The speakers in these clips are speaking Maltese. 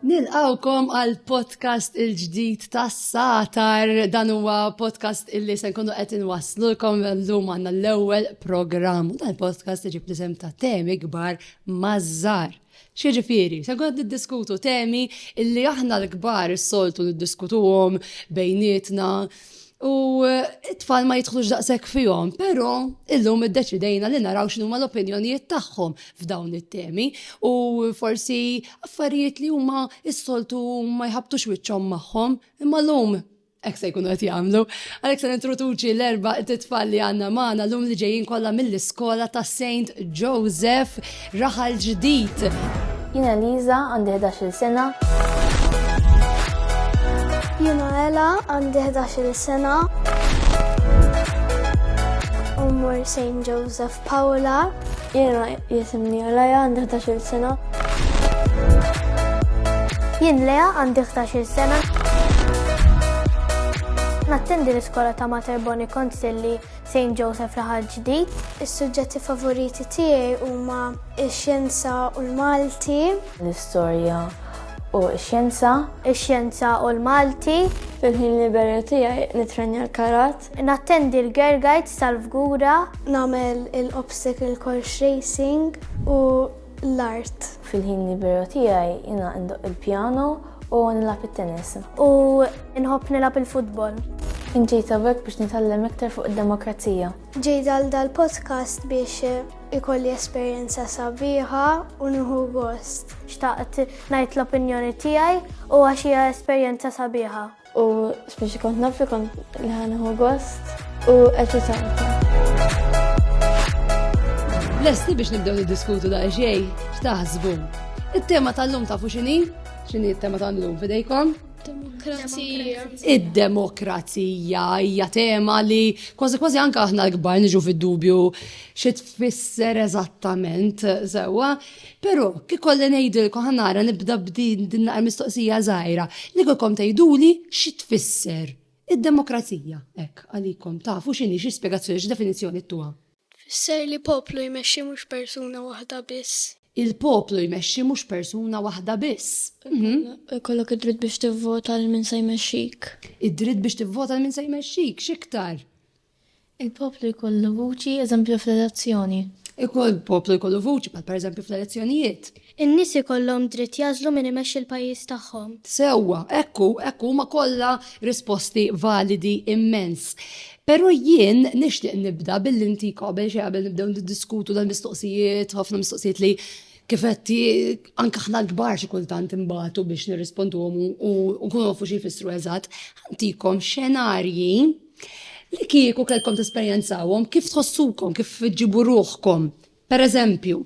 Nilqawkom għal podcast il-ġdid tas satar dan huwa podcast illi se nkunu qed inwasslulkom llum għandna l-ewwel programm. Dan il-podcast iġib l-isem ta' temi kbar mażżar. X'jiġifieri, se nkunu qed niddiskutu temi illi aħna l-kbar is-soltu niddiskutuhom bejnietna u t-tfal ma jidħlux daqshekk fihom, però illum iddeċidejna li naraw x'inhuma l-opinjonijiet tagħhom f'dawn it-temi u forsi affarijiet li huma s-soltu ma jħabbtux wiċċhom magħhom imma llum Ek se jkunu qed jagħmlu. Għalhekk se nintroduċi l-erba' titfal li għandna magħna lum li ġejjin kollha mill-iskola ta' Saint Joseph Raħal Ġdid. Jiena Liza għandi 11-il sena. Jiena Ela għandi 11-il sena. Umur Saint Joseph Paola, jena jisimni Alaya għandi 11 sena. Jien Lea għandi 11 sena. Nattendi l-iskola ta' Mater Boni Konsilli St. Joseph Raħal Ġdid. Is-suġġetti favoriti tiegħi huma x-xjenza u l-Malti. L-istorja u x-xjenza. Ix-xjenza u l-Malti. Fil-ħin liberu tiegħi nitrenja l-karat. Nattendi l-Girl Guides tal-Fgura. Nagħmel il-Obstacle Course Racing u l-Art. Fil-ħin liberu tiegħi jiena indoq il-pjano u nilgħab it-tennis. U nħobb nilgħab il-futbol. Inġejt hawnhekk biex nitgħallem iktar fuq id-demokrazija. Ġejt għal dal-podcast biex ikolli esperjenza sabiħa u nieħu gost. Xtaqt ngħid l-opinjoni tiegħi u għax hija esperjenza sabiħa. U speċi kont naf li kont li ħanħu gost u eċitanta. Lesti biex nibdew niddiskutu da' xej, x'taħsbu. It-tema tal-lum ta' fuxini, xini it-tema tal-lum fidejkom? Demokrazija. Id-demokrazija hija tema li kważi kważi anka aħna l-kbar niġu fid-dubju xi tfisser eżattament sewwa. Pero, ikolli ngħidilkom, ħa nara nibda b'din din naqra mistoqsija żgħira, li kiekom tgħiduli xi tfisser id-demokrazija hekk għalikom, tafu x'inhi, xi spjegazzjoni, xi definizzjoni ttuha? Tfisser li poplu jmexxi mhux persuna waħda biss. Il-poplu jmexxi mhux persuna waħda biss. Ikollok id-dritt biex tivvota lil min se jmexxik. Id-dritt biex tivvota lil min se jmexxik, x'iktar? Il-poplu jkollu vuċi, eżempju, fl-elezzjoni. Ikun il-poplu jkollu vuċi, bħal pereżempju fl-elezzjonijiet. In-nies ikollhom dritt jagħżlu min imexxi l-pajjiż tagħhom. Sewwa, hekk hu, hekk hu, huma kollha risposti validi immens. Però jien nixtieq nibda billi ntik qabel xejn qabel nibdew niddiskutu dal-mistoqsijiet, ħafna mistoqsijiet li kif qed anke aħna l-kbar xi kultant imbagħtu biex nirrisponduhom u nkunu nafu xi jfissru eżatt, ħantikom xenarji Li kieku kellkom tesperjenzawhom, kif tħossukom, kif ġibu ruħkom? Per eżempju,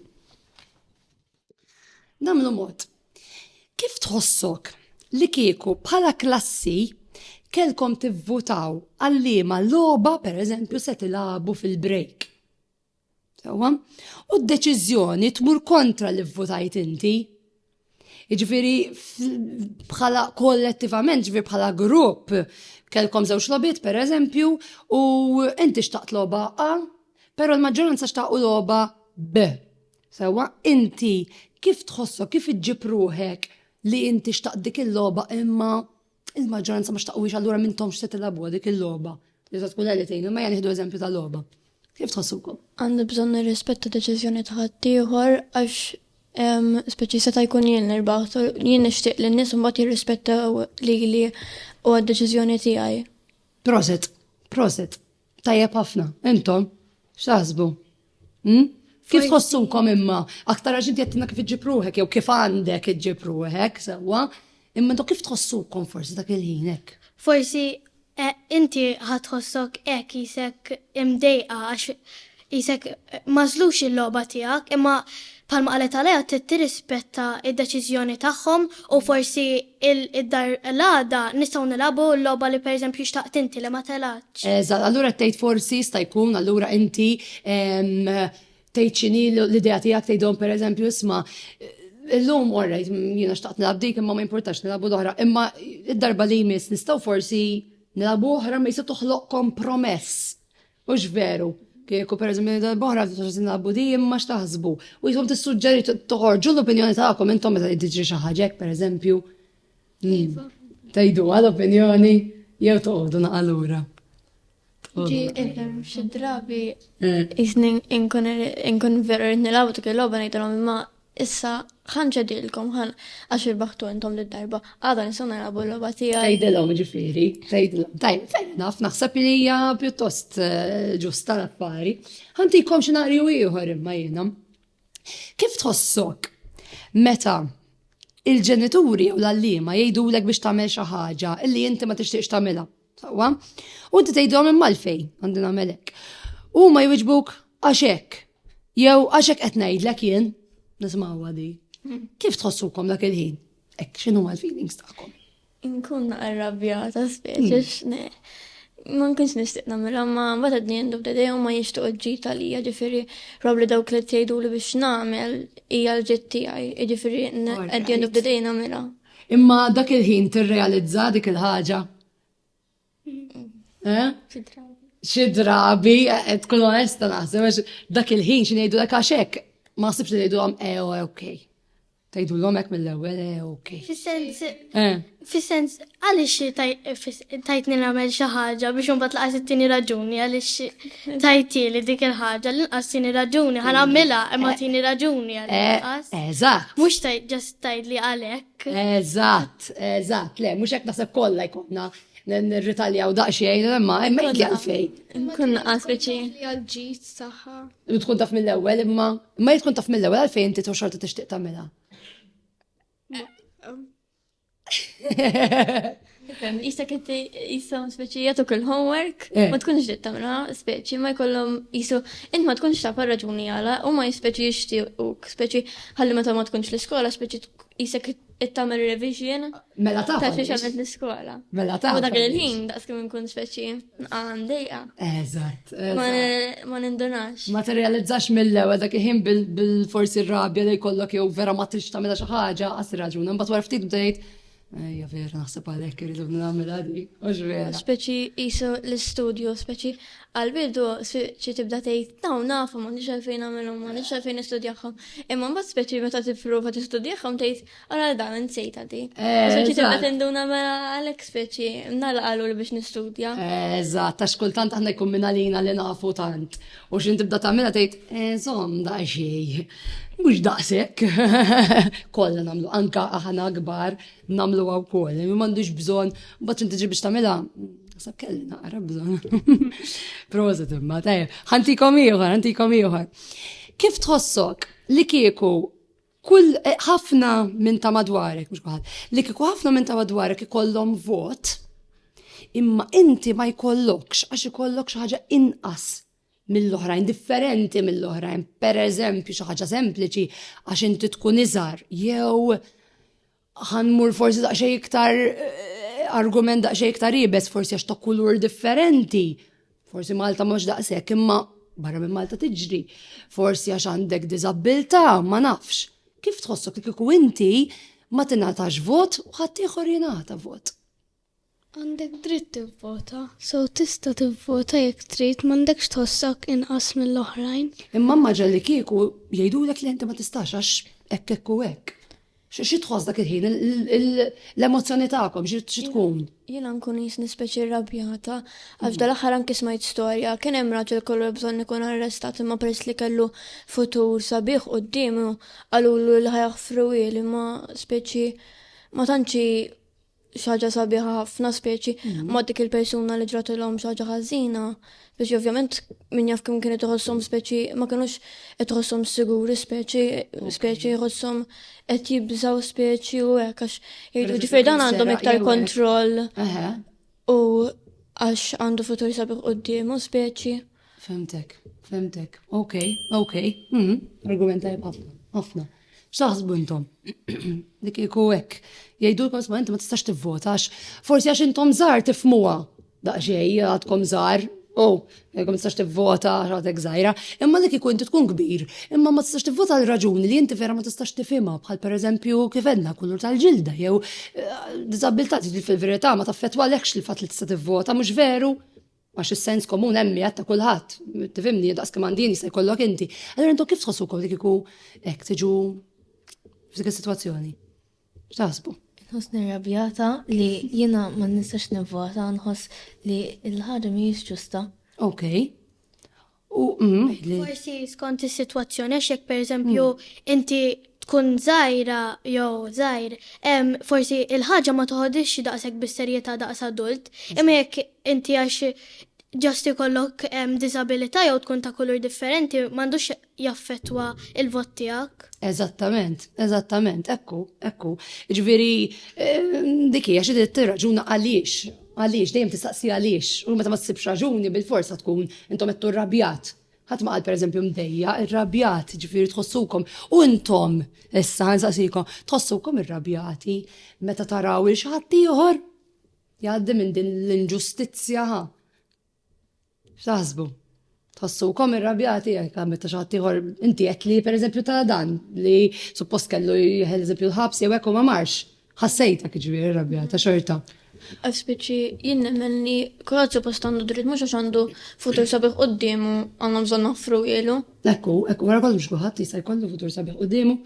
namlu mod. Kif tħossok li kieku bħala klassi kellkom tivvutaw għallima logħba per eżempju se tilagħbu fil-break? Sewwa? U d-deċiżjoni tmur kontra li vvutajt inti. Ġifieri bħala kollettivament, ġifieri bħala grupp, kelkom żewġ lobit per eżempju, u inti xtaqt loba A, pero l-maġġoranza xtaqu loba B. Sewa, inti kif tħossok, kif iġġib ruħek li inti xtaqt dik il-loba imma Il-maġġoranza ma xtaqwix allura mintom x'se tilgħabuha dik il-logħba. Li se tkun li tgħin, imma jien nieħdu eżempju ta' logħba. Kif tħossukom? Għandu bżonn nirrispetta deċiżjoni ta' ħaddieħor għax speċi seta' jkun jien nirbaħ, jien nixtieq li n-nies mbagħad jirrispettaw lili u għad-deċiżjoni tiegħi. Proset, proset. Tajjeb ħafna, intom, x'taħsbu? Hmm? Kif tħossukom imma? Aktar għax inti qed kif iġġib ruħek jew kif għandek iġġib ruħek sewwa, imma intom kif tħossukom forsi dak il-ħin hekk? Forsi eh, inti ħatħossok hekk jisek imdejqa għax Qisek m'għażlux il-logħba tiegħek, imma bħalma qalet Alea trid tirrispetta d-deċiżjoni tagħhom u forsi id-dar l-għada nistgħu nilagħbu l-logħba li pereżempju xtaqt inti li ma telgħetx. Eżatt, allura qed tgħid forsi jista' jkun allura inti tgħid x'inhi l-idea tiegħek tgħidhom pereżempju isma' illum all right jiena xtaqt nilgħab dik imma ma jimpurtax nilagħbu l-oħra imma d-darba li jmiss nistgħu forsi nilagħbu oħra imma jista' toħloq kompromess Hux veru, kieku pereżempju li darb'oħra tagħtina l-budi imma x'taħsbu. U jisom tissuġġeri toħorġu l-opinjoni tagħkom intom meta tiġri xi ħaġa pereżempju. Iva. Tajdu għal opinjoni jew toqgħodu naqalura. Ġi ifhem xi drabi eh. jisni inkun veru rrid nilgħabu dik il-logħba ngħidilhom imma Issa, ħa nċedilkom, ħa għax irbaħtu intom li darba għadha nistgħu narabu l-logħba tiegħi. Tgħidilhom ġifieri, tgħidilhom. Tajb, fair enough, naħseb li hija pjuttost eh, ġusta l-affari. Ħantikom xenarju ieħor imma jiena. Kif tħossok meta il-ġenituri u l-allima jgħidulek biex tagħmel xi ħaġa illi inti ma tixtieqx tagħmilha? Sawa, u inti tgħidhom imma l-fej għandi nagħmel hekk. Huma jwiġbuk għax hekk. Jew għax hekk qed ngħidlek jien, nismawha di. Kif tħossukom dak il-ħin? Hekk x'inhu l-feelings tagħkom? Inkun arrabjata speċi x'ne. Ma nkunx nixtieq nagħmilha ma mbagħad qed jendu b'dedej u ma jixtuq ġid għalija ġifieri probli dawk li tgħiduli biex nagħmel hija l-ġid tiegħi, jiġifieri qed jendu b'dedej nagħmilha. Imma dak il-ħin tirrealizza dik il-ħaġa. Eh? Xi drabi, eh, eh, tkun onesta naħseb, dak il-ħin xi ngħidu dak għax hekk, ma sibx li ngħidu għam ew eh, ok. Tajdu l-omek mill-ewwel ew ok. Fis-sens, fis-sens, għaliex tajtni nagħmel xi ħaġa biex imbagħad laqas it-tieni raġuni għaliex tajtieli dik il-ħaġa l-inqas tieni raġuni ħa nagħmilha imma tieni raġuni għaliex. Eh, eżatt. Mhux ġast tgħidli għalhekk. Eżatt, eżatt, le, mhux hekk naħseb kollha jkollna nirritaljaw daqsxejn, imma imma jekk għalfej. Nkun naqas biċi. Għal-ġid saħħa. Tkun taf mill-ewwel imma imma tkun taf mill-ewwel għalfejn inti xorta tixtieq tagħmilha. Jista kitti jisam speċi jatuk il-homework, eh. ma tkunx ġiet tamra, speċi ma jkollhom jisu, int ma tkunx taf raġuni għala, u ma jispeċi jixtiequk, speċi ħalli meta ma tkunx l-iskola, speċi jisek it-tamer revision. Mela ta' ta' xie xamet l-iskola. Mela ta' U dak il-ħin, daqs kim nkun speċi. Għan dejqa. Eżatt. Ma nindunax. Ma t-realizzax mill-ewel dak iħin bil-forsi rabja li kollok jew vera ma trix tamela xaħġa, għas raġun. Mbat wara ftit bdejt, Ja vera, naħseb għalek irridu namela di, għax vera. Speċi jisu l-studio, speċi għal-bidu speċi tibda tejt, naw nafu ma nix għalfejn għamilom, ma nix għalfejn istudjaħħom. Imma mbat speċi meta t-prova t-istudjaħħom tejt, Għara dan, nsejta di. Soċi tibda tinduna mela għalek speċi, nala għallu li biex nistudja. Eżat, ta' xkultant għanna jkun minna lina li nafu tant. U xin tibda ta' minna tejt, zom da' xej. Mux daqsek. Kolla namlu, anka aħna gbar namlu għaw koll. Mi mandux bżon, bat inti biex ta' minna, Sab kelli naqra bżon. Proset imma, tajja. ħantikom iħor, ħantikom iħor. Kif tħossok li kieku Kull, ħafna minn ta' madwarek, mhux kulħadd, li kieku ħafna minn ta' madwarek ikollhom vot, imma inti ma jkollokx għax ikollok xi ħaġa inqas mill-oħrajn, differenti mill-oħrajn, pereżempju xi ħaġa sempliċi għax inti tkun iżgħar jew Ħa nmur forsi daqsxejn iktar argument daqsxejn iktar ibes forsi għax ta' kulur differenti. Forsi Malta mhux daqshekk imma barra minn Malta tiġri. Forsi għax għandek diżabbiltà ma nafx. Kif tħossok li kieku inti ma tingħatax vot u ħadd ieħor jingħata vot? Għandek dritt tivvota. So tista' tivvota jekk trid, m'għandekx tħossok inqas mill-oħrajn. Imma immaġina li kieku jgħidulek le inti ma tistax għax hekk hekk u hekk. Xi tħoss dak il-ħin? L-emozzjoni tagħkom xi tkun? Jiena nkun qis nispeċi rrabjata għax dal-aħħar anki smajt storja kien hemm raġel kollu bżonn ikun arrestat imma peress li kellu futur sabiħ quddiemu qalulu li ħajaħfru li ma speċi ma tantx xaġa sabiħa ħafna speċi mhm. ma dik il-persuna li ġratilhom xaġa ħażina. Speċi ovvjament min jaf kemm kienet iħossom speċi ma kienux qed iħossom siguri speċi speċi iħossom qed jibżaw speċi u hekk għax jgħidu ġifier dan għandhom iktar kontroll u għax għandu futur sabiħ quddiemu speċi. Fimtek, fimtek. Ok, ok. Hmm, argument tajb ħafna, ħafna. X'taħsbu intom? Dik iku hekk. Jgħidu l ma inti ma tistax tivvota għax forsi għax intom żgħar tifmuha. Daqsxejn għadkom żgħar, oh, ma tistax tivvota għax għadek żgħira. Imma dik iku inti tkun kbir, imma ma tistax tivvota għal raġuni li inti vera ma tistax tifhimha bħal pereżempju kif għedna kulur tal-ġilda jew eh, diżabilità fil-verità ma taffettwa lekx li fatt li tista' tivvota mhux veru Għax is-sens komun hemm jgħid ta' kulħadd, tifhimni, daqs kemm għandin jista' jkollok inti. Allura intom kif tħossukom li kieku hekk tiġu f'dik is-sitwazzjoni? X'taħsbu? Nħoss nirrabjata li jiena ma nistax nivvota, nħoss li l-ħaġa mhijiex ġusta. Okej. U mm, forsi skont is-sitwazzjoni għax jekk pereżempju mm. inti tkun żgħira jew żgħir, forsi il-ħaġa ma toħodix daqshekk bis-serjetà daqs adult, imma jekk inti għax ġast ikollok disabilità jew tkun ta' kulur differenti m'għandux jaffettwa il-vot tiegħek. Eżattament, eżattament, ekku, ekku. Ġifieri dikija xi trid tirraġuna għaliex Għaliex? Dejjem tistaqsi għaliex. U meta ma ssibx raġuni, bilfors ħa tkun, intom għedtu rrabjat. Ħadd ma qal pereżempju mdejjaq, irrabjat, jiġifieri tħossukom. U intom, issa nsaqsikom, tħossukom irrabjati meta taraw il xi ħadd ieħor jgħaddi minn din l-inġustizzja? X'taħsbu? Tħossukom irrabjati jekk meta xi ħadd ieħor inti qed li pereżempju ta' dan li suppost kellu jeħel eżempju l-ħabs jew hekk u ma marx. Ħassejtek ġifieri irrabjata xorta. Speċi jien nemmen li kulħadd suppost għandu dritt mhux għax għandu futur sabiħ quddiemu għandna bżonn noffru ilu. Ekku, ekku, wara kollox kulħadd jista' jkollu futur sabiħ quddiemu.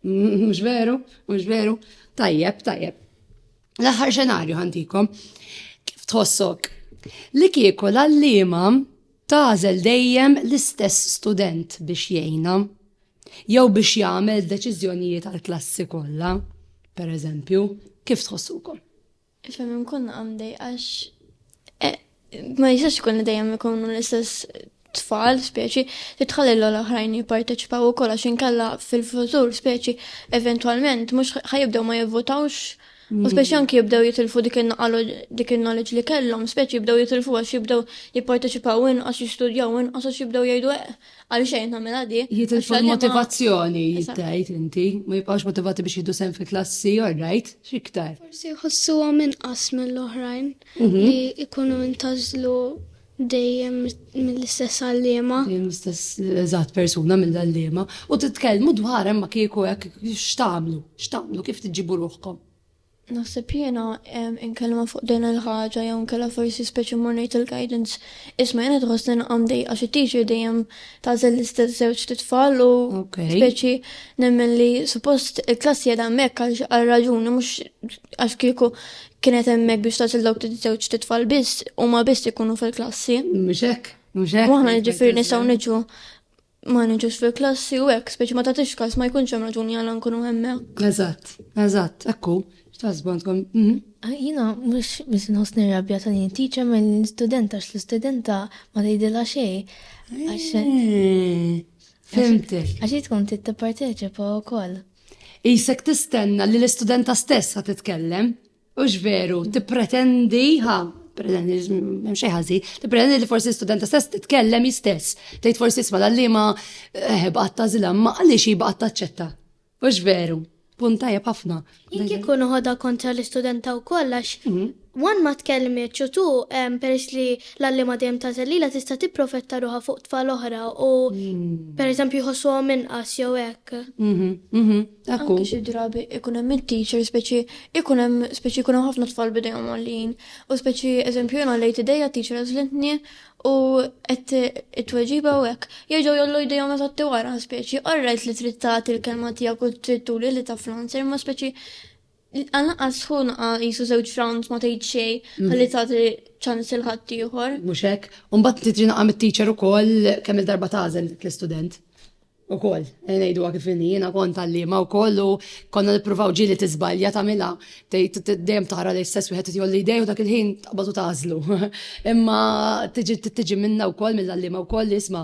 Mhux veru, mhux veru. Tajjeb, tajjeb. L-aħħar xenarju ħantikom. Kif tħossok? Li kieku l-allima tażel dejjem l-istess student biex jgħina jew biex jagħmel deċiżjonijiet għal klassi kollha, per eżempju, kif tħossukom? Ifhem hemm konna għamdej għax ma jistax ikun li dejjem ikunu l-istess tfal, speċi, li tħalli l-oħrajn jipparteċipaw u kolla xinkalla fil-futur, speċi, eventualment, mux ħajibdew ma jivvotawx, u mm. speċi anki jibdew jitilfu dik il-naqalu dik il-knowledge li kellhom, speċi jibdew jitilfu għax jibdew jipparteċipaw inqas jistudjaw inqas għax jibdew jgħidu eh, Għal xejn nagħmilha di. Jitilfu l-motivazzjoni jittejt inti, ma jibqgħux motivati biex jidu sen fil-klassi, orrajt, xiktar. Forsi jħossuha minn qas mill-oħrajn mhm. li ikunu intażlu dejjem mill-istess għallima. Mill-istess eżatt persuna mill-għallima. U titkellmu dwar hemm kieku hekk x'tagħmlu, x'tagħmlu kif tiġibu ruħkom. Naħseb jiena inkellma fuq din il-ħaġa jew inkella forsi speċi mmur ngħid il-guidance. Isma' jiena qed iħossni naqqa' mdejqa xi teacher dejjem tagħżel l-istess żewġt itfal u speċi nemmen li suppost il-klass qiegħda hemmhekk għal raġuni mhux għax kieku kienet hemmhekk biex tagħżel dawk żewġt itfal biss huma biss ikunu fil-klassi. Mhux hekk, mhux hekk. U aħna jiġifieri nistgħu niġu ma niġux fil-klassi u hekk, speċi ma tagħtix kas ma jkunx hemm raġuni għal nkunu hemmhekk. Eżatt, eżatt, ekku, x'tasbantkom. Mhm. Ah, jina, mux bis nħos nirrabja ta' din teacher ma' l-studenta, x l-studenta ma tgħidilha xej. Eh, fimtek. Għax tkun titparteċipa wkoll. Isek tistenna li l-istudenta stess ħad titkellem. Hux veru, tippretendi, ha, pretendi, hemm xejn ħażin, tippretendi li forsi studenta stess titkellem istess. Tgħid forsi isma' l-għalliema eh, baqgħet tażilha, ma għaliex hi baqgħet taċċetta. Hux veru, punt tajjeb ħafna. Jien kieku noħodha kontra l-istudenta wkoll għax Mhm. wan ma tkellmitx u tu em, peress li l-għalliema dejjem ta' lilha tista' tipprofetta ruħha fuq tfal oħra u pereżempju jħossuhom inqas jew hekk. Mhm, mhm. Dak hu. Anki xi drabi ikun hemm it-teacher speċi ikun hemm speċi jkun hemm ħafna tfal b'idejhom għoljin. U speċi eżempju jien għollejt idejja t-teacher għażlitni u qed it-tweġiba u hekk. Jerġgħu jgħollu jdejhom eżatt wara speċi, all right li trid tagħti l-kelma tiegħek u trid turi li taf l-answer imma speċi Għal naqqas hu naqa' qisu żewġ rounds ma tgħid xejn ħalli tagħti ċans lil ħaddieħor. Mhux hekk. U mbagħad inti tiġi naqa' mit-teacher ukoll kemm-il darba tagħżel l-istudent. Ukoll, ngħiduha kif inhi, jiena kont għalliema wkoll u konna nippruvaw ġieli tiżbalja tagħmilha, tgħid dejjem tara li l-istess wieħed qed jgħolli jdejh u dak il-ħin taqbad u tagħżlu. Imma tiġi tiġi minnha wkoll mill-għalliema wkoll li isma'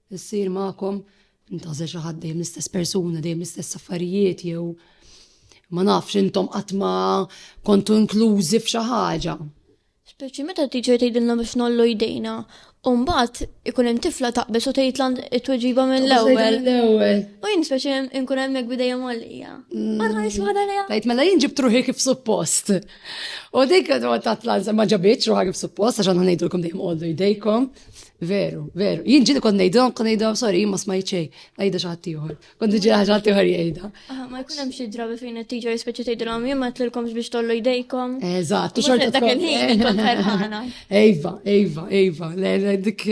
issir magħkom, intgħażel xi ħadd dejjem l-istess persuna, dejjem l-istess affarijiet jew ma nafx intom qatt ma kontu inklużi f'xi ħaġa. Speċi meta t-teacher tgħidilna biex nollu jdejna, u mbagħad ikun hemm tifla taqbeż u tgħid lan it-tweġiba mill-ewwel. L-ewwel. U jien speċi nkun hemm hekk bidejja mollija. Għadha niswaħda lejha. Tajt mela jien ġibt ruħi kif suppost. U dik tat lan ma ġabitx ruħha kif suppost għax għandna ngħidulkom dejjem qollu jdejkom. Veru, veru. Jien ġili kont ngħidhom, kont ngħidhom, sorry, jien ma smajt xejn, ngħidha xi ħadd ieħor. Kont niġi ħaġa ħadd ieħor jgħidha. Ah, ma jkun hemm xi drabi fejn it-tiġa jispiċċa tgħidilhom jien ma tlilkomx biex tollu jdejkom. Eżatt, u xorta dak il-ħin kont ferħana. Ejva, ejva, ejva, le dik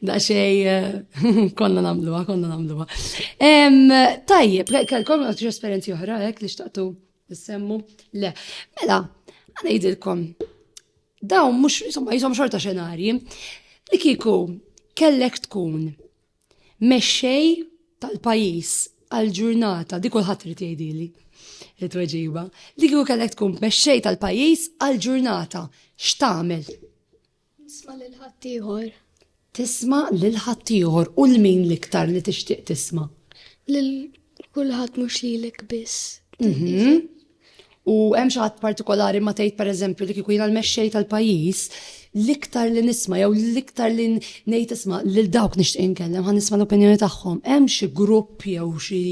daqsxejn eh, konna nagħmluha, konna nagħmluha. Tajjeb, konna xi esperjenzi oħra hekk li xtaqtu Nissemmu? Le. Mela, għanajdilkom, dawn mux, insomma, jisom xorta xenarji, li kiku kellek tkun mexxej tal-pajis għal-ġurnata, di kulħadd irid jgħidili it-tweġiba, li kieku kellek tkun mexxej tal-pajjiż għal-ġurnata, x'tagħmel? Tisma' lil ħaddieħor. Tisma' lil ħaddieħor u 'l min l-iktar li tixtieq tisma'? Lil kulħadd mhux lilek biss. Mhm. U hemm xi ħadd partikolari ma tgħid pereżempju li kieku jiena l-mexxej tal-pajjiż, l-iktar li nisma' jew l-iktar li ngħid isma' lil dawk nixtieq inkellem ħa nisma' l-opinjoni tagħhom. Hemm xi grupp jew xi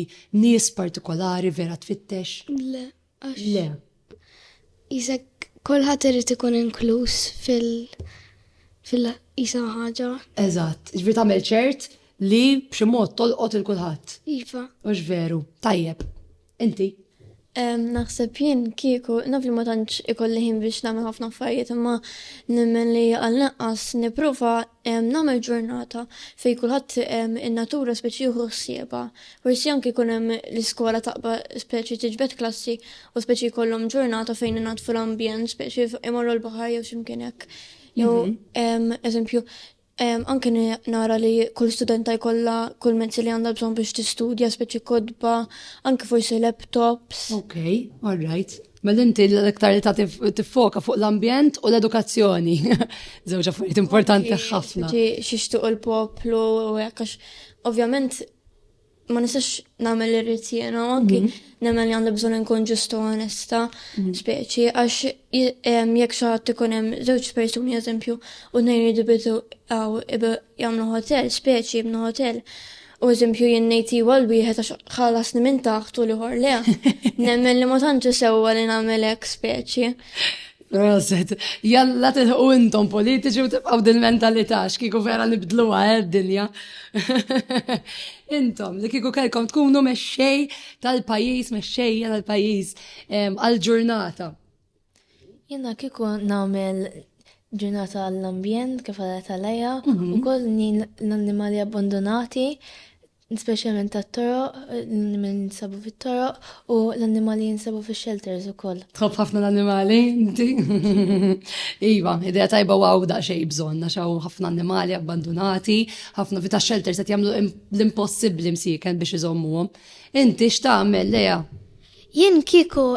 nies partikolari vera tfittex? Le, Le. Isek kulħadd irid ikun inkluż fil fil isa ħaġa. Eżatt, ġifieri tagħmel ċert li b'xi mod tolqot il kulħadd. Iva. Mhux veru. Tajjeb. Inti? Naħseb jien kieku naf li ma tantx ikolli ħin biex nagħmel ħafna affarijiet imma nemmen li għal naqqas nipprova Nagħmel ġurnata fejn kulħadd in-natura spiċċ jieħu ħsiebha. Forsi anke jkun hemm l-iskola taqba' speċi tiġbed klassi u speċi jkollhom ġurnata fejn inaddfu l-ambjent speċi imorru l-baħar jew xi mkien hekk. Jew eżempju anke nara li kull studenta jkollha kull mezzi li għandha bżonn biex tistudja speċi kotba, anke forsi laptops. Okay, all right. Mela inti l-iktar li ta' tiffoka fuq l-ambjent u l-edukazzjoni. Żewġ affarijiet importanti ħafna. Xixtuq il-poplu u għax ovvjament ma nistax nagħmel irrid jiena anki mhm. nemmen li għandu bżonn inkun ġustu onesta, mhm. speċi għax jekk xi ħadd ikun hemm żewġ persuni eżempju u nejn jridu bidu għaw jagħmlu ħotell, speċi jibnu ħotell. U eżempju jien ngħid iwa l-wieħed għax ħallasni minn taħt u liħor le. Nemmen li ma tantx sewwa li nagħmel hekk speċi. Proset, jalla tilħu intom politiċi u tibqaw din mentalità x'kieku vera nibdlu għal dinja. Intom, li kieku kelkom tkunu mexxej tal-pajjiż, mexxejja tal-pajjiż għal-ġurnata. Jiena kieku nagħmel ġurnata għall-ambjent kif għalet għalija, mhm. u koll nin l-annimali abbandonati, specialment ta' toro, l-annimali jinsabu fit toro u l-annimali jinsabu fi shelters u koll. Tħob ħafna l-annimali, inti? iva, idea tajba u għaw da' xej bżon, għaw ħafna annimali abbandonati, ħafna vita shelters għet jamlu l-impossibli msiken biex iżommuhom. Inti x'tagħmel leja? Jien kieku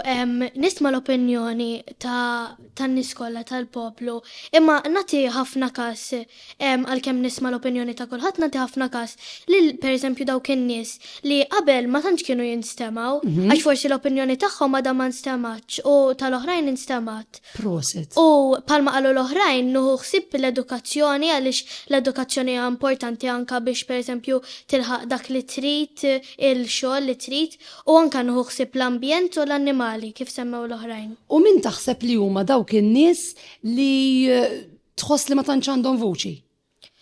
nisma' l-opinjoni ta' tan-nies kollha tal-poplu, imma nagħti ħafna kas, għalkemm nisma' l-opinjoni ta' kulħadd nagħti ħafna kas lil pereżempju dawk in-nies li qabel ma tantx kienu jinstemgħu għax forsi l-opinjoni tagħhom għadha ma nstemgħetx u tal-oħrajn instemgħet. Proset. U bħalma qalu l-oħrajn nieħu ħsieb l-edukazzjoni għaliex l-edukazzjoni hija importanti anke biex pereżempju tilħaq dak li trid, il-xogħol li trid U anke nieħu ħsieb l-ambjent u l-annimali, kif semmew l-oħrajn. U min taħseb li huma dawk in-nies li tħoss li ma tantx għandhom vuċi?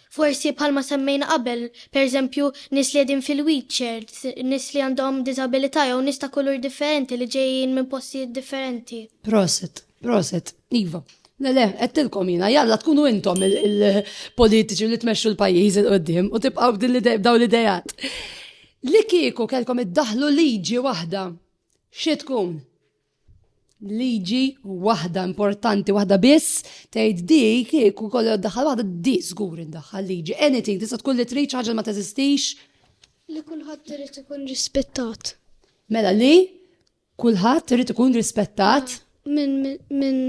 Forsi bħalma semmejna qabel, pereżempju, nies li qegħdin fil-wheelchairs, nies li għandhom diżabilità jew nies ta' kulur differenti li ġejjin minn postijiet differenti. Prosit. Proset, Iva. Le, le, għettilkom jina, jalla tkunu intom il-politiċi li tmexxu l-pajjiż il-qoddim u tibqaw daw l-idejat. Li kieku kelkom iddaħlu liġi waħda, xie tkun? Liġi waħda importanti, waħda biss, tgħid di kieku kollu daħal waħda di żgur indaħħal liġi. Anything, tista' tkun li trid ħaġa ma teżistix. Li kulħadd irid ikun rispettat. Mela li Kulħadd irid ikun rispettat. Minn minn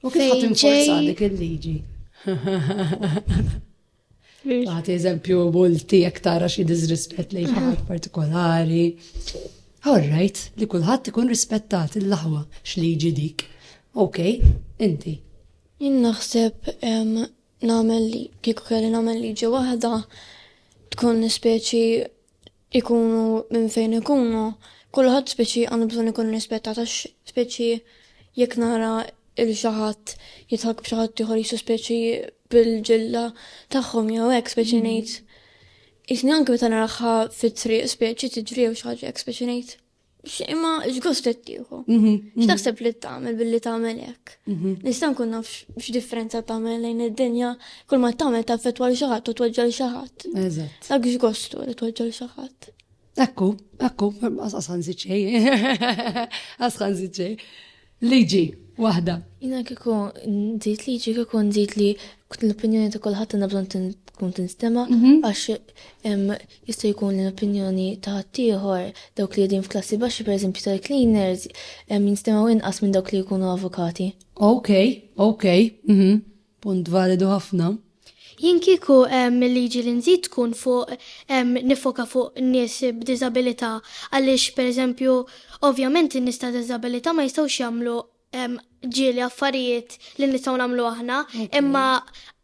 U kif ħadd inforza dik il-liġi? Għati eżempju multi jekk tara xi disrispett lejn ħadd partikolari. Alright, li kulħadd ikun rispettat il-laħwa x'liġi dik. Ok, inti. Jien naħseb nagħmel kieku kelli nagħmel liġi waħda tkun speċi ikunu minn fejn ikunu, kulħadd speċi għandu bżonn ikun irrispettat għax speċi jekk nara lil xi ħadd jidħak b'xi ħadd ieħor jsu speċi bil-ġilda tagħhom jew hekk speċi ngħid. Isni anke meta naraha fit-triq speċi tiġri jew xi ħaġa hekk speċi ngħid. Imma x'gost qed tieħu? Mhm, mhm. X'taħseb li tagħmel billi tagħmel hekk? Mhm. Nista' nkun naf x'differenza tagħmel lejn id-dinja kull ma tagħmel taffettwa l xi ħadd u tweġġel xi ħadd. Eżatt. Dak x'gostu li tweġġel xi ħadd. Ekku, ekku, asqas ħanżid xejn. Asqas ħanżid xejn. Liġi, waħda. Jiena kieku nżid liġi kieku nżid li l-opinjoni ta' kulħadd għandha bżonn tkun tinstema' mhm. għax jista' jkun l-opinjoni ta' ħaddieħor dawk li qegħdin f'klassi baxxi pereżempju tal-cleaners jinstemaw inqas minn dawk li jkunu avukati. Ok, ok. Mhm. Punt validu ħafna. Jien kieku l-liġi li nżid tkun fuq niffoka fuq nies b'diżabilità għaliex pereżempju ovvjament in-nies ta' diżabilità ma jistgħux jagħmlu ġieli affarijiet li nistgħu nagħmlu aħna imma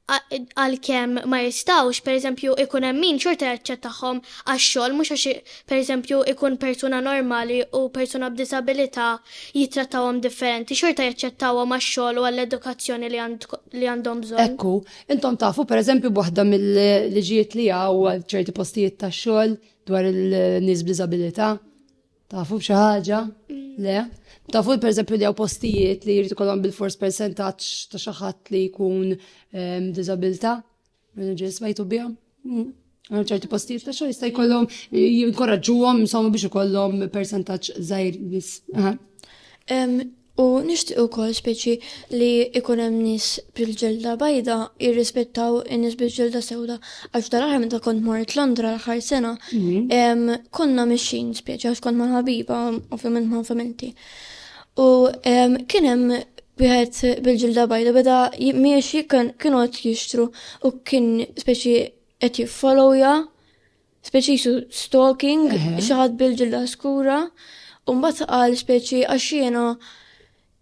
għalkemm ma jistgħux pereżempju jkun hemm min xorta jaċċettahom għax-xogħol mhux għax pereżempju, ikun persuna normali u persuna b'diżabilità jittrattawhom differenti, xorta jaċċettawhom għax-xogħol u għall-edukazzjoni li għandhom bżonn. Hekk hu. Intom tafu, pereżempju, b'waħda mill-liġijiet li hawn għal ċerti postijiet tax-xogħol dwar il-nies b'diżabilità? Tafu b'xi ħaġa? Le? Tafu pereżempju li hawn postijiet li jrid ikollhom bilfors persentaġġ ta' xi ħadd li jkun ehm, b'diżabilità? Managers bajtu biha għal ċerti postijiet ta' xogħol jista' jkollhom jinkoraġġuhom insomma biex ikollhom percentaġġ żgħir nies. U nixtieq ukoll speċi li ikun hemm nies bil-ġelda bajda jirrispettaw in-nies bil-ġelda sewda għax dal-aħħar meta kont mort Londra l-aħħar sena mhm. konna mixin speċi għax kont mal-ħabiba ovvjament ma' familti. U kien hemm wieħed bil-ġilda bajda beda miexi kienu qed jixtru u kien speċi qed jiffollowja, speċi jisu stalking, xi ħadd bil-ġilda skura, u mbagħad qal speċi għax jiena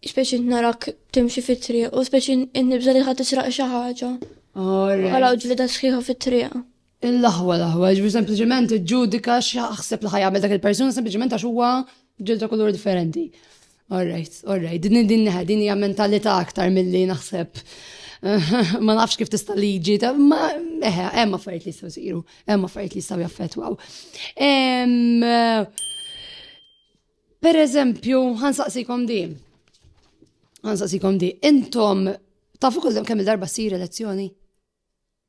speċi narak timxi fit-triq u speċi nibża li ħadd israq xi ħaġa. Għalaw ġilda sħiħa fit-triq. Il-aħwa l-aħwa, ġifieri sempliċement iġġudika x'jaħseb li ħajjagħmel dak il-persuna sempliċement għax huwa ġilda kulur differenti. All right, all right, din din neħed, din hija mentalità aktar milli naħseb. Ma nafx kif tista' liġi, ma eħe, hemm affarijiet li jistgħu jsiru, hemm affarijiet li jistgħu jaffettwaw. Per eżempju, ħansaqsikom di. Ħansaqsikom di. Intom tafu kull kemm il-darba ssir elezzjoni?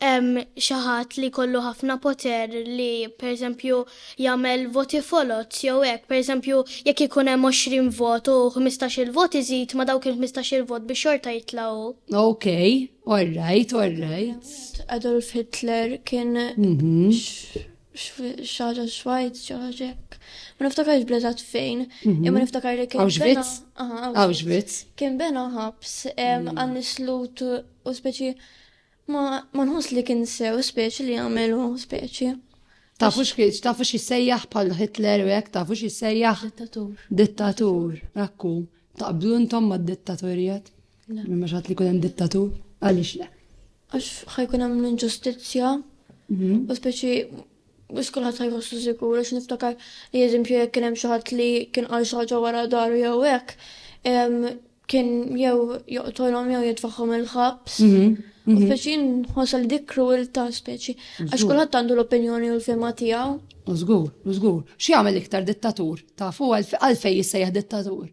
hemm xi ħadd li jkollu ħafna poter li pereżempju jagħmel voti foloz jew hekk, pereżempju jekk ikun hemm 20 vot u ħmistax-il vot iżid ma' dawk il-ħmistax-il vot biex xorta jitla' hu. Ok, all right, all right. Adolf Hitler kien xi ħaġa Schweiz, xi ħaġa hekk. Ma niftakarx bl-eżatt fejn, imma niftakar li kien. Auschwitz? Auschwitz. Kien bena ħabs għan-nies Lut u speċi Ma ma nħoss li kien sew speċi li jagħmelu speċi. Tafu x'kieġ, tafu x'jissejjaħ bħal Hitler u hekk, tafu x'jissejjaħ Dittatur. dittatur. Ekku, taqblu intom mad-dittaturjat? Le. Ma xatt li kun hemm dittatur? Għaliex le? Għax ħajkun hemm l-inġustizzja Mhm. u speċi biex kulħadd ħajħossu sikur għax niftakar li eżempju jekk kien hemm xi ħadd li kien qal xi ħaġa wara daru jew hekk, em, kien jew joqtolhom jew jitfaħħom il-ħabs. Mhm, u mhm. Speċi nħossol dik kruwilta speċi. Għax kulħadd għandu l-opinjoni u l-fema tiegħu. Żgur, żgur. X'jagħmel iktar dittatur? Tafu għalfej jissejjaħ dittatur?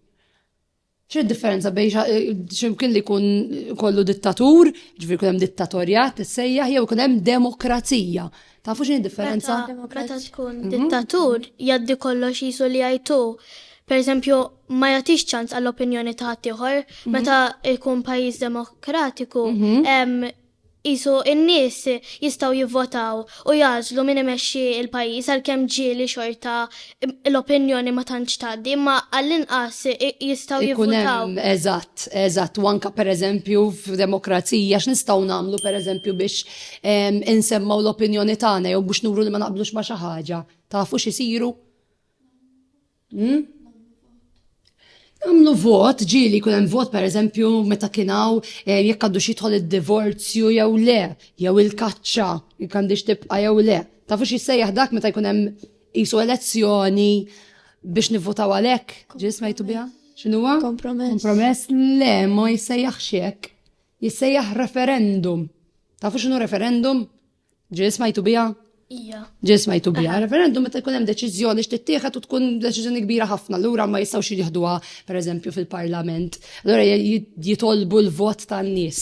ċe differenza bej eh, ximkien li kun kollu dittatur, ġviri kunem dittatorjat, sejjaħ, jew kunem demokrazija. Tafu x'inhi d-differenza? Meta tkun mhm. dittatur jaddi kollox jisu li jajtu. Per eżempju, ma jagħtix ċans għall-opinjoni ta' ħaddieħor mhm. meta jkun pajjiż demokratiku mhm. jisu in-nies jistgħu jivvotaw u jażlu min imexxi il-pajjiż għalkemm ġieli xorta l-opinjoni ma tantx tgħaddi, imma għall-inqas jistgħu jivvutaw. Eżatt, eżatt, u anke pereżempju f'demokrazija x'nistgħu nagħmlu pereżempju biex insemmgħu l-opinjoni tagħna jew biex nuru li ma naqblux ma' xi ħaġa. Tafu x'isiru? Hm? Għamlu vot, ġili kun hemm vot pereżempju meta kien hawn eh, jekk għandu xitħol id-divorzju jew le, jew il-kaċċa, jekk għandix tibqa' jew le. Tafu xi sejjaħ dak meta jkun hemm Isu elezzjoni biex nivvotaw għalhekk, ġis smajtu biha? X'inhuwa? Kompromess. Kompromess le ma jissejjaħ xek. Jissejjaħ referendum. Tafu x'inhu referendum? Ġis smajtu biha? Ija. Ġis smajtu biha. Referendum meta jkun hemm deċiżjoni x'tittieħed u tkun deċiżjoni kbira ħafna, lura ma jistgħux jieħduha pereżempju fil-Parlament. Allura jitolbu l-vot tan-nies.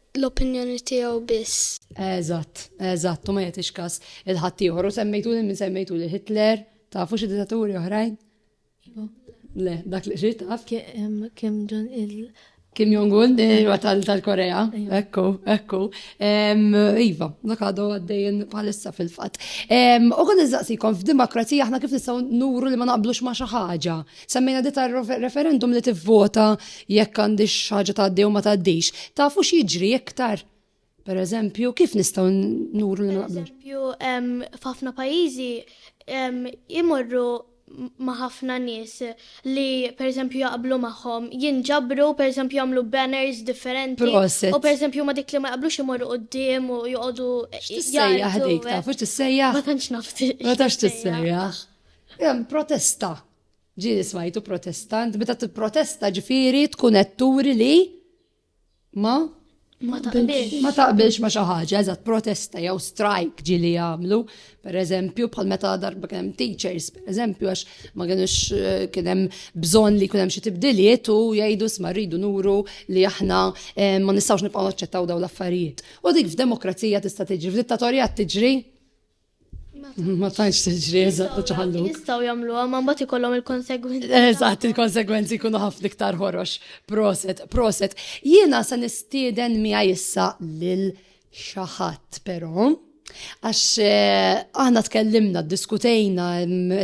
l-opinjoni tiegħu biss. Eżatt, eżatt, u ma jagħtix każ il-ħaddieħor u semmejtu lil min semmejtu lil Hitler, tafu xi dittaturi oħrajn? Iva. Le, dak li xi taf. Kim ġon il- Kim Jong-un, eh, tal-Korea, iva. ekku, ekku. Iva, dak għadu għaddejn palissa fil-fat. U għan iżaqsikom f'demokrazija aħna kif nistaw nuru li ma naqblux ma xaħġa. Semmejna di tar-referendum li tivvota jekk għandix ħaġa tgħaddi u ma tgħaddix. Tafu x'jiġri iktar? Per eżempju, kif nistgħu nuru li naqblu? Eżempju, f'ħafna pajjiżi imorru ma' ħafna nies li pereżempju jaqblu magħhom, jinġabru pereżempju jagħmlu banners differenti. Proset. U pereżempju ma dik li ma jaqblux imorru qudiem u joqogħdu. X'tissejjaħ dik taf, x'tissejjaħ? Ma tantx nafti. Ma tantx tissejjaħ. Hemm protesta. Ġieli smajtu protesta, int meta tipprotesta ġifieri tkun qed turi li ma ma taqbilx. Ma taqbilx ma xi ħaġa, eżatt protesta jew strike ġieli jagħmlu, pereżempju bħal meta darba kien hemm teachers, pereżempju għax ma kienux eh, kien hemm bżonn li jkun hemm xi tibdiliet u jgħidu sma rridu nuru li aħna eh, ma nistgħux nibqgħu naċċettaw dawn l-affarijiet. U dik f'demokrazija tista' tiġri, f'dittatorjat tiġri Ma tantx tiġri eżatt u ċaħallu. Jistgħu jagħmluha ma mbagħad ikollhom il-konsegwenzi. Eżatt, il-konsegwenzi jkunu ħafna iktar ħorox. Proset, proset. Jiena se nistieden miha issa lil xi ħadd però. Għax eh, aħna tkellimna, diskutejna,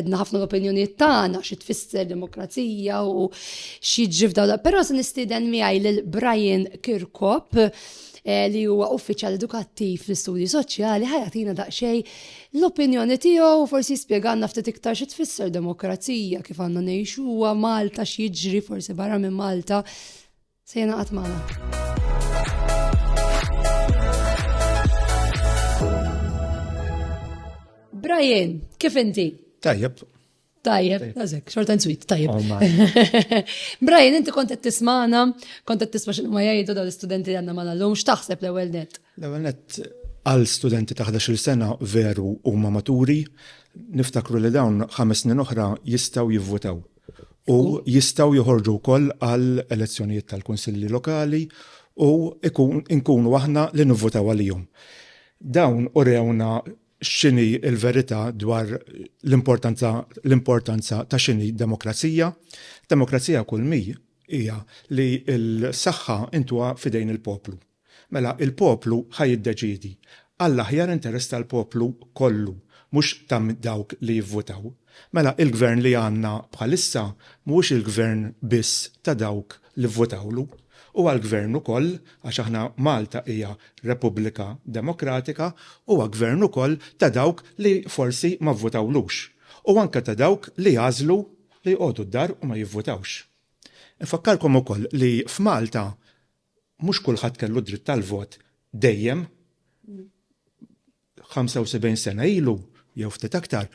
edna ħafna l-opinjoniet tagħna xi tfisser demokrazija u xi ġifda. Però se nistieden miegħi lil Brian Kirkop eh, li huwa uffiċjal edukattiv fl-istudji soċjali ħajatina daqsxejn l-opinjoni tiegħu forsi spjegalna ftit iktar xi tfisser demokrazija kif għandna ngħixu huwa Malta x'jiġri forsi barra minn Malta se jenaqat magħna. Brian, kif inti? Tajjeb. Tajjeb, għazek, short and sweet, tajjeb. Oh, Brian, inti kontet tismana, kontet tisma xinu ma jajdu daw l-studenti għanna ma l-lum, xtaħseb l-ewel net? L-ewel net, għal studenti ta' 11 sena veru u ma maturi, niftakru li dawn ħames snin oħra jistaw jivvotaw. U jistaw joħorġu wkoll għal elezzjonijiet tal-Kunsilli Lokali u nkunu aħna li nivvotaw għalihom. Dawn u rewna x'inhi l-verità dwar l-importanza l-importanza ta' x'inhi demokrazija. Demokrazija kull mi hija li l-saħħa intuha f'idejn il-poplu. Mela il-poplu ħa jiddeċiedi għall-aħjar interess tal-poplu kollu mhux ta' dawk li jivvutaw. Mela il-gvern li għandna bħalissa mhuwiex il-gvern biss ta' dawk li vvotawlu, u għall-Gvern ukoll, għax aħna Malta hija Repubblika Demokratika, huwa Gvern ukoll ta' dawk li forsi ma vvotawlux, u anke ta' dawk li għażlu li jqogħdu d-dar u ma jivvotawx. Infakkarkom ukoll li f'Malta mhux kulħadd kellu d-dritt tal-vot dejjem. 75 sena ilu, jew ftit aktar,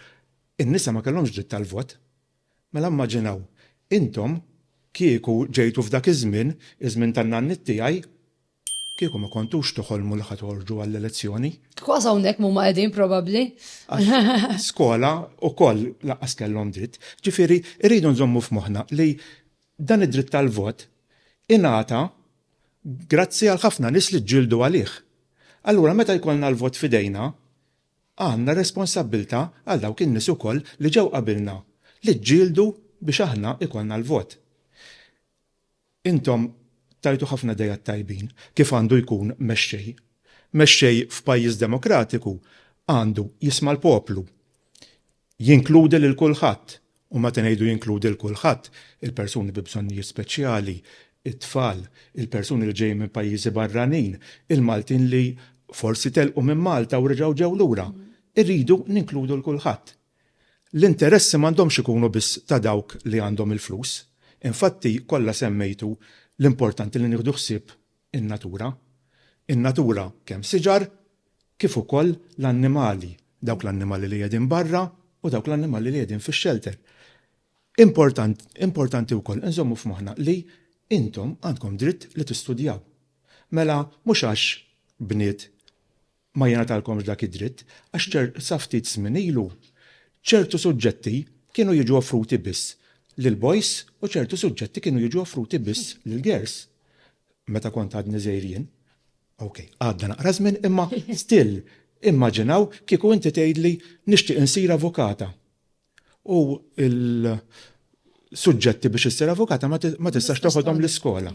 in-nisa ma kellhomx dritt tal-vot. Mela mmaġinaw, intom kieku ġejtu f'dak iż-żmien, iż-żmien tan-nanniet tiegħi, kieku ma kontux toħolmu li ħa toħorġu għall-elezzjoni. Kważi hawnhekk m'huma qegħdin probabbli. Skola wkoll lanqas kellhom dritt. Ġifieri rridu nżommu f'moħħna li Dan id-dritt tal-vot ingħata grazzi għal ħafna nies li ġġieldu għalih. Allura meta jkollna l-vot f'idejna, għandna responsabbiltà għal dawk in-nies ukoll li ġew qabilna li ġġieldu biex aħna jkollna l-vot. Intom tajtu ħafna ideat tajbin kif għandu jkun mexxej. Mexxej f'pajjiż demokratiku għandu jisma' l-poplu. Jinkludi lil kulħadd, u meta ngħidu jinkludi lil kulħadd, il-persuni bi bżonnijiet speċjali, it-tfal, il-persuni li ġejjin minn pajjiżi barranin, il-Maltin li forsi telqu minn Malta u reġgħu ġew lura. Irridu ninkludu lil kulħadd. L-interessi m'għandhomx ikunu biss ta' dawk li għandhom il-flus. Infatti, kollha semmejtu l-importanti li nieħdu ħsieb in-natura. In-natura kemm siġar kif ukoll l-annimali, dawk l-annimali li qegħdin barra u dawk l-annimali li qegħdin fix-xelter. Important, importanti wkoll inżommu f'moħħna li intom għandkom dritt li tistudjaw. Mela mhux għax bniet ma jingħatalkomx dak id-dritt għax sa ftit żmien ilu ċertu suġġetti kienu jiġu offruti biss lill-boys u ċertu suġġetti kienu jiġu offruti biss lill-girls. Meta kont għadni żgħir jien. Ok, għadda naqra żmien imma still immaġinaw kieku inti tgħidli nixtieq insir avukata u il- suġġetti biex issir avukata ma tistax toħodhom l-iskola.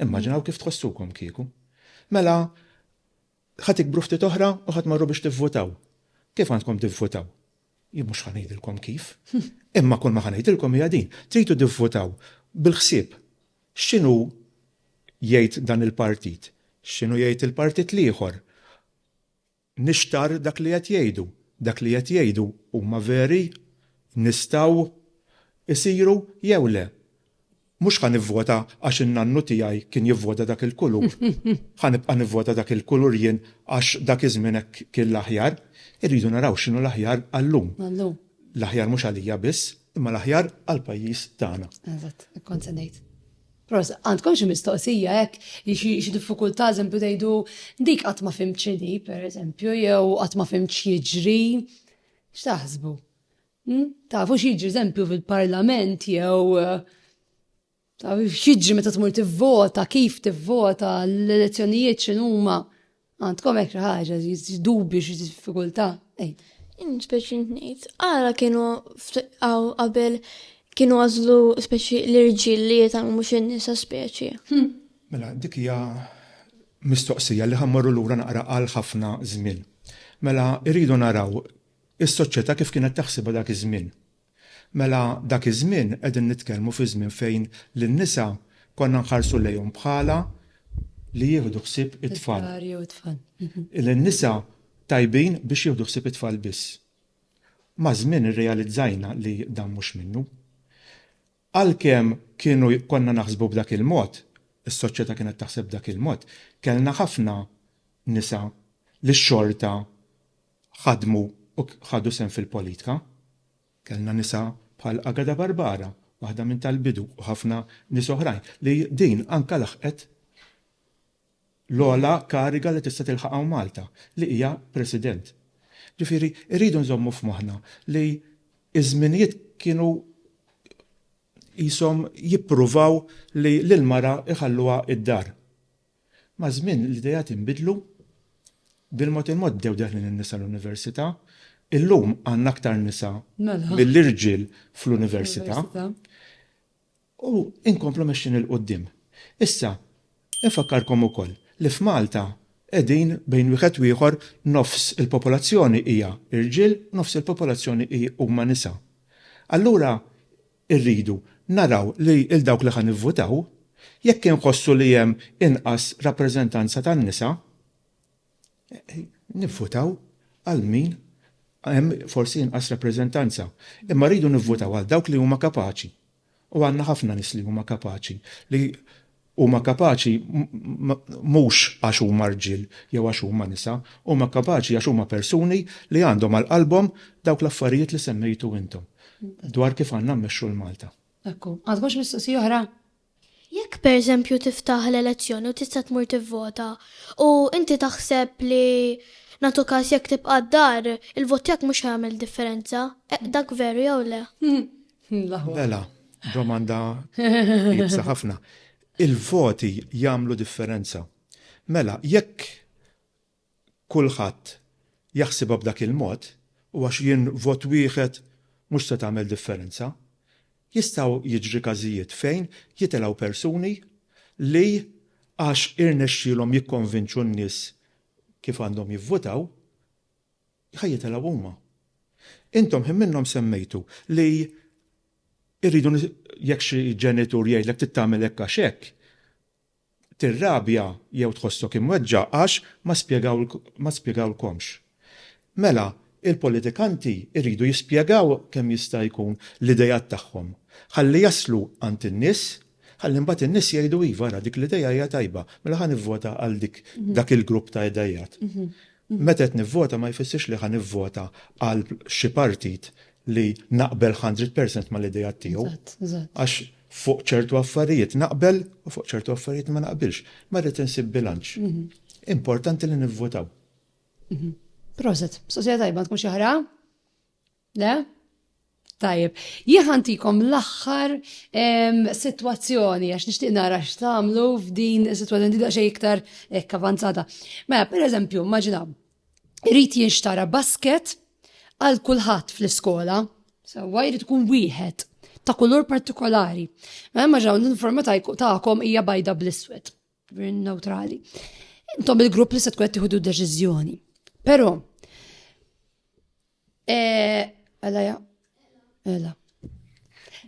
Immaġinaw kif tħossukom kieku. Mela, Ħa tikbru ftit oħra u ħa tmorru biex tivvutaw. Kif għandkom tivvutaw? Jien mhux ħa ngħidilkom kif. Imma kull ma ħa ngħidilkom hija din, tridu tivvutaw bil-ħsieb x'inhu jgħid dan il-partit, x'inhu jgħid il-partit l-ieħor. Nixtarr dak li qed jgħidu. Dak li qed jgħidu huma veri? Nistgħu jsiru jew le? Mhux ħa nivvota għax in-nannu tiegħi kien jivvota dak il-kulur. Ħa nibqa' nivvota dak il-kulur jien għax dak iż-żmien hekk kien l-aħjar. Irridu naraw x'inhu l-aħjar għal-lum. L-aħjar mhux għalija biss, imma l-aħjar għall-pajjiż tagħna. Eżatt, hekk kont se ngħid. Proset, għandkom xi mistoqsija hekk, xi diffikultà eżempju tgħidu dik qatt ma fhimt x'inhi, pereżempju, jew qatt ma fhimt x'jiġri? X'taħsbu? Tafu x'jiġri eżempju fil-Parlament jew taf x'jiġri meta tmur tivvota, kif tivvota, l-elezzjonijiet x'inhuma. Għandkom hekk xi ħaġa, dubju xi diffikultà. Inspeċi ngħid, ara kienu qabel kienu għażlu speċi l-irġiel li jitalmu mhux in-nisa speċi. Hm. Mela, dik hija mistoqsija li ħammorru lura naqra għal ħafna żmien. Mela, irridu naraw Is-soċjetà kif kienet taħsibha dak iż-żmien? Mela dak iż-żmien qegħdin nitkellmu fi żmien fejn lin-nisa konna nħarsu lejhom bħala li jieħdu ħsieb it-tfal. Id-dar jew it-tfal. Lin-nisa tajbin biex jieħdu ħsieb it-tfal biss. Maż-żmien irrealizzajna li dan mhux minnu. Għalkemm kienu konna naħsbu b'dak il-mod, is-soċjetà kienet taħseb b'dak il-mod, kellna ħafna nisa li xorta ħadmu u ħadu sehem fil-politka. Kellna nisa bħal Agada Barbara, waħda minn tal-bidu u ħafna nies oħrajn li din anke laħqet l-ogħla kariga li tista' tilħaq hawn Malta, li hija President. Ġifieri rridu nżommu f'moħħna li ż-żminijiet kienu qishom jippruvaw li lill-mara jħalluha d-dar. Maż-żmien l-ideat inbidlu. Bil-mod il-mod bdew deħlin in-nisa l-università. Illum għandna aktar nisa milli rġiel fl-università. U inkomplu mexjin 'il quddiem. Issa, infakkarkom ukoll li f'Malta qegħdin bejn wieħed u ieħor nofs il-popolazzjoni hija rġiel, nofs il-popolazzjoni huma nisa. Allura, Irridu naraw li 'l dawk li ħa nivvutaw, jekk inħossu li hemm inqas rappreżentanza tan-nisa, nivvutaw għal min hemm forsi inqas rappreżentanza. Imma rridu nivvutaw għal dawk li huma kapaċi. U għandna ħafna nies li huma kapaċi li Huma kapaċi mhux għax huma rġiel jew għax huma nisa, huma kapaċi għax huma persuni li għandhom għal qalbhom dawk l-affarijiet li semmejtu intom dwar kif għandna mmexxu 'l Malta. Ekku, għandkom xi mistoqsija oħra? Jekk pereżempju tiftaħ l-elezzjoni u tista' tmur tivvota u inti taħseb li nagħtu każ jekk tibqa' d-dar, il-vot tiegħek mhux ħajamel differenza, dak veru jew le? Mela, domanda ibsa ħafna. Il-voti jagħmlu differenza. Mela, jekk kulħadd jaħsibha b'dak il-mod, u għax jien vot wieħed mhux se tagħmel differenza, jistgħu jiġri każijiet fejn jitilgħu persuni li għax irnexxielhom jikkonvinċu n-nies kif għandhom jivvutaw, Ħa jitelgħu huma. Intom ħin minnhom semmejtu li rridu jekk xi ġenitur jgħidlek trid tagħmel hekk għax hekk, tirrabja jew tħossok imweġġa' għax ma spjegawlkomx. Mela, il-politikanti jridu jispjegaw kemm jista' jkun l-ideat tagħhom ħalli jaslu għand in-nies Ħalli mbagħad in-nies jgħidu iva ara dik l-idea hija tajba, mela ħa nivvota għal dik dak il-grupp ta' ideat. Meta qed nivvota ma jfissirx li ħa nivvota għal xi partit li naqbel hundred percent mal-ideat tiegħu. Għax fuq ċertu affarijiet naqbel u fuq ċertu affarijiet ma naqbilx. Ma rrid insib bilanċ. Importanti li nivvotaw. Proset. Sosja tajba tkun xi ħra? Le? Tajjeb, jien ħantikom l-aħħar sitwazzjoni għax nixtieq nara x'tagħmlu f'din is-sitwazzjoni tibda xejn iktar hekk avanzata. Mela, pereżempju, immaġinaw, irid jinxtara basket għal kulħadd fl-iskola, sewwa jrid ikun wieħed ta' kulur partikolari. Mela immaġinaw l-uniforma tagħkom hija bajda bl-iswed, neutrali. Intom il-grupp li se tkun qed tieħdu deċiżjoni. Però, Eh, ela ja. Ela.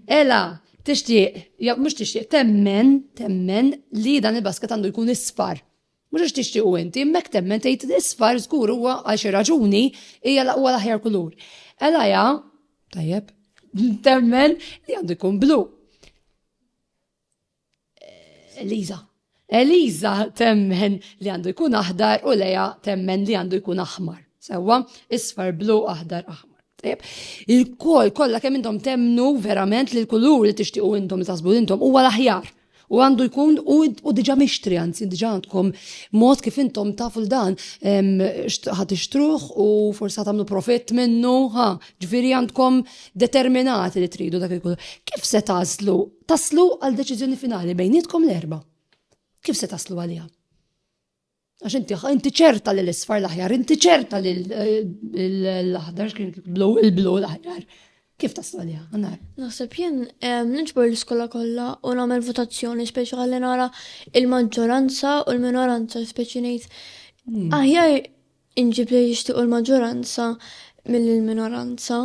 Ela, tixtieq, ja mhux tixtieq, temmen, temmen li dan il-basket għandu jkun isfar. Mhux għax tixtieq u inti, mek temmen tgħid isfar żgur huwa għal xi raġuni hija laqwa l-aħjar kulur. Ela ja, tajjeb, temmen li għandu jkun blu. Eliza. Eliza temmen li għandu jkun aħdar u Leja temmen li għandu jkun aħmar. Sewa, isfar blu aħdar aħmar. Il-kol kollha kemm intom temnu verament li l-kulur li tixtiequ intom li tasbu intom huwa l-aħjar. U għandu jkun u diġa mixtri, għanzi diġa għandkom mod kif intom tafu l-dan ħat ixtruħ u forsa tamlu profit minnu, ha, ġviri għandkom determinati li tridu dak il-kulur. Kif se tażlu Taslu għal deċiżjoni finali bejnietkom l-erba. Kif se taslu għaliha? Għax inti inti ċerta li l-isfar l-aħjar, inti ċerta li l-aħdar kien blu il-blu l-aħjar. Kif taslu għaliha? Għannar. Naħseb jien nġbor l-iskola kollha u nagħmel votazzjoni speċjali nara il-maġġoranza u l-minoranza speċi ngħid. Hmm. Aħjar Inġib li jixtiequ l-maġġoranza milli l-minoranza.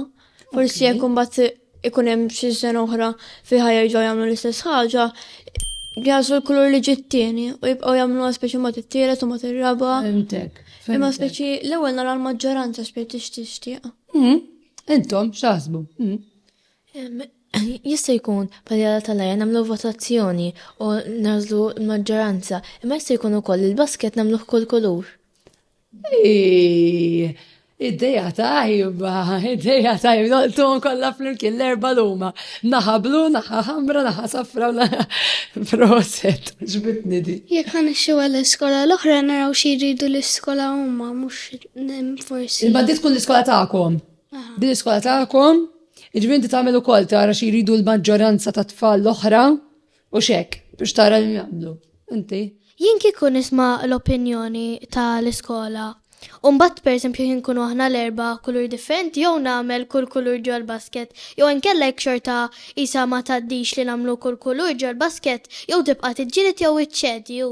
Forsi jekk imbagħad ikun hemm xi sena oħra fiha jerġgħu jagħmlu l-istess ħaġa, jażlu l-kulur li ġittieni u jibqgħu jagħmluha speċi ma tittiret u ma tirraba. Fimtek. Imma speċi l-ewwel nara l-maġġoranza speċi tixtieq. Hmm, intom x'aħsbu? Hmm. Jista' jkun paljala tal-lajja nagħmlu votazzjoni u nażlu l-maġġoranza, imma jista' jkun ukoll il-basket nagħmluh kull kulur. Id-deja tajba, id-deja tajba, noltum kollha flimkien l-erba' luma. Naħa blu, naħa ħamra, naħa safra, naħa proset, ġbitni di. Jekk għan ixxu għall-iskola l-oħra naraw xi jridu l-iskola huma mhux forsi. Imma di tkun l-iskola tagħkom. Din l-iskola tagħkom, ġbinti tagħmel ukoll tara xi jridu l-maġġoranza tat-tfal l-oħra U xek, biex tara li jagħmlu, inti. Jien kieku nisma' l-opinjoni tal-iskola Umbat per esempio jien kunu aħna l-erba kulur differenti jew nagħmel kull kulur ġol basket jew inkella jekk xorta isa ma taddix li nagħmlu kull kulur ġol basket jew tibqa' tiġġieled jew iċċedi jew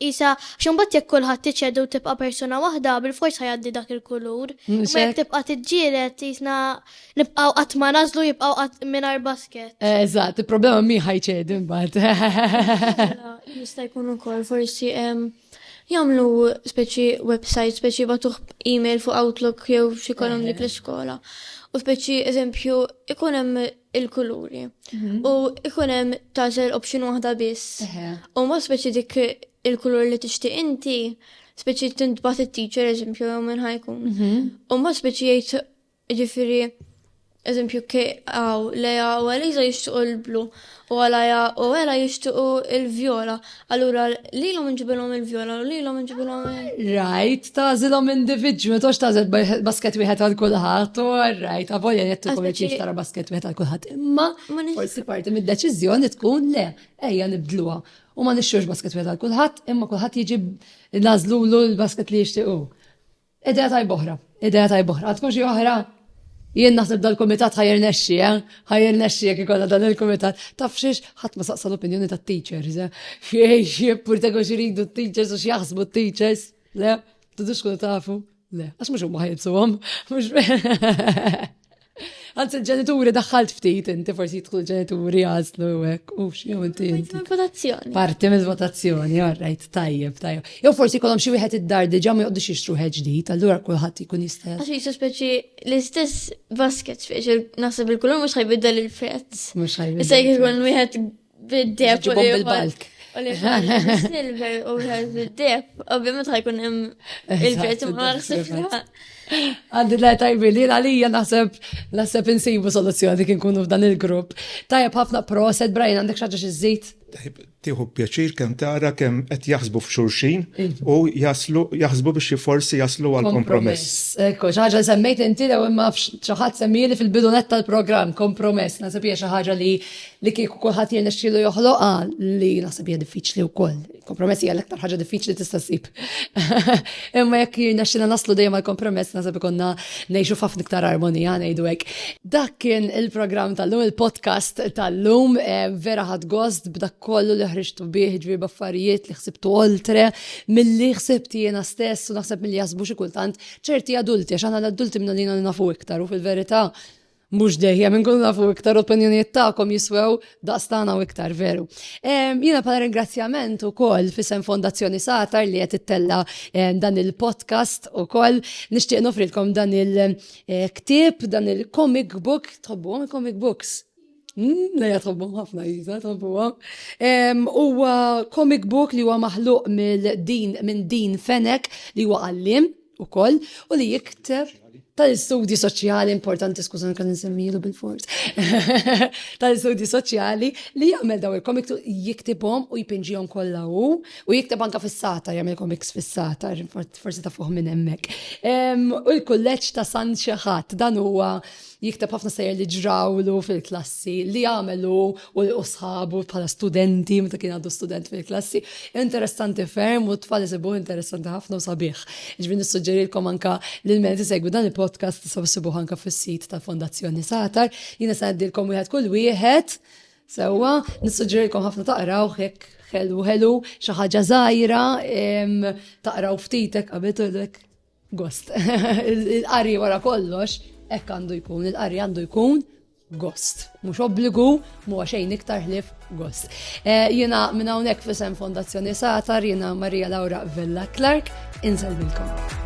isa x'imbagħad jekk kulħadd tiċċedu tibqa' persuna waħda bil-fors ħajaddi dak il-kulur. Imma jekk tibqa' tiġġieled jisna Nibqaw qatt ma nażlu jibqaw qatt mingħajr basket. Eh, eżatt, il-problema mi ħajċedi mbagħad. Jista' jkun ukoll forsi jagħmlu speċi website, speċi batuħ email fuq Outlook jew xi kolom dik l-iskola. U speċi eżempju ikun hemm il-kuluri. Mhm. U ikun hemm tażel option waħda biss. U ma speċi dik il-kulur li tixtieq inti, speċi tintbat it-teacher eżempju jew minn ħajkun. Mhm. U ma speċi jgħid Jiġifieri, eżempju, K, Aw, Lea u Eliża jixtiequ l-blu u Alaja u Ela jixtiequ l-vjola. Allura lilhom inġibilhom il-vjola u lilhom inġibilhom il-. Rajt, tagħżilhom individwi, ma tgħodx tagħżel basket wieħed għal kulħadd, u rajt, avolja jekk tkun qed tara basket wieħed għal kulħadd. Imma forsi parti mid-deċiżjoni tkun le, ejja nibdluha. U ma nixxux basket wieħed għal kulħadd, imma kulħadd jiġi nagħżlulu l-basket li jixtiequ. Idea tajba oħra, idea tajba oħra. Għadkom xi oħra? Jien naħseb dal-kumitat ħajr nexxi, eh? ħajr nexxi jekk ikolla dan il-kumitat. Taf xiex ħadd ma saqsa l-opinjoni tat-teachers, eh? Xiej, purtego xiridu t-teachers u x'jaħsbu t-teachers, le? Tudux kun tafu, le? Għax mhux huma ħajibsuhom, mhux Għaz il-ġenituri daħħalt ftit, inti forsi jitħlu ġenituri għazlu għek, u xie inti. Votazzjoni. Parti mill votazzjoni, għarrajt, tajjeb, tajjeb. Jow forsi kolom xie wieħed id-dar diġa ma jgħoddu xie xruħ ġdijt, għallura kullħat jkun jista. Għax jisu speċi l-istess basket, speċi nasib il-kulur mux ħajbidda l-prezz. Mux ħajbidda. Issa jkun wieħed bid-deb. Ġibom bil-balk. U li silver u bid-deb. Ovvijament ħajkun hemm il-prezz ma ħsibna. Għandi la tajbi li għalija naħseb naħseb insibu soluzzjoni kien kunu f'dan il-grupp. Tajab ħafna proset, Brian, għandek xaġa xizzit? Tiħu pjaċir kem tara kem qed jaħsbu f'xurxin u jaslu jaħsbu biex forsi jaslu għal kompromess. Ekku, xaħġa semmejt inti lew imma xaħat semmili fil-bidunet tal-programm kompromess. Nasib hija xi ħaġa li li kieku kulħadd jirnexxielu joħloqha li naħseb hija diffiċli wkoll. Kompromess hija l-aktar ħaġa diffiċli tista' ssib. Imma jekk jirnexxina naslu dejjem għal kompromess naħseb ikonna ngħixu f'ħafna iktar armonija ngħidu hekk. Dak kien il-programm tal-lum il-podcast tal-lum eh, vera ħadd gost b'dak kollu li ħriġtu bih ġbir baffarijiet li ħsibtu oltre milli ħsibt jiena stess u naħseb milli jasbu xi kultant ċerti adulti għax aħna l-adulti minna li nafu iktar u fil-verità Mhux dejjem inkunu nafu iktar opinjonijiet tagħkom jiswew daqs tagħna u iktar veru. Jiena bħala ringrazzjament ukoll fisem Fondazzjoni Satar li qed ittella dan il-podcast ukoll nixtieq nofrilkom dan il-ktieb, dan il-comic book, tħobbuhom il-comic books. Hmm, Leja tħobbuhom ħafna jiża, tħobbuhom. Huwa comic book li huwa maħluq minn din Fenek li huwa għallim ukoll u li jikteb tal-istudji soċjali importanti, skużan kan nsemmilu bil-fors, tal-istudji soċjali li jagħmel daw il-komik jiktibhom u jpinġihom kollha u u jikteb anka fis-sata jagħmel komiks fis-sata, forsi ta' fuq minn hemmhekk. U l-kulleġġ ta' San Xeħat dan huwa jikteb ħafna sejjer li ġrawlu fil-klassi, li għamelu u li usħabu bħala studenti, meta kien għadu student fil-klassi. Interessanti ferm u t-tfal jisibu interessanti ħafna u sabiħ. Ġbin nissuġġerilkom anka li l-men segwi dan il-podcast tisabu sibuħ anka fis-sit tal-Fondazzjoni Satar. Jina sanaddilkom wieħed kull wieħed. Sewa, nissuġġerilkom ħafna taqraw hekk ħelu ħelu xi ħaġa żgħira taqraw ftitek qabel Gost. Il-qari wara kollox, hekk għandu jkun, il-qari għandu jkun gost. Mhux obbligu, mu xejn iktar ħlif gost. Eh, jiena minn hawnhekk fisem Fondazzjoni Satar, jiena Maria Laura Vella Clark, inżel milkom.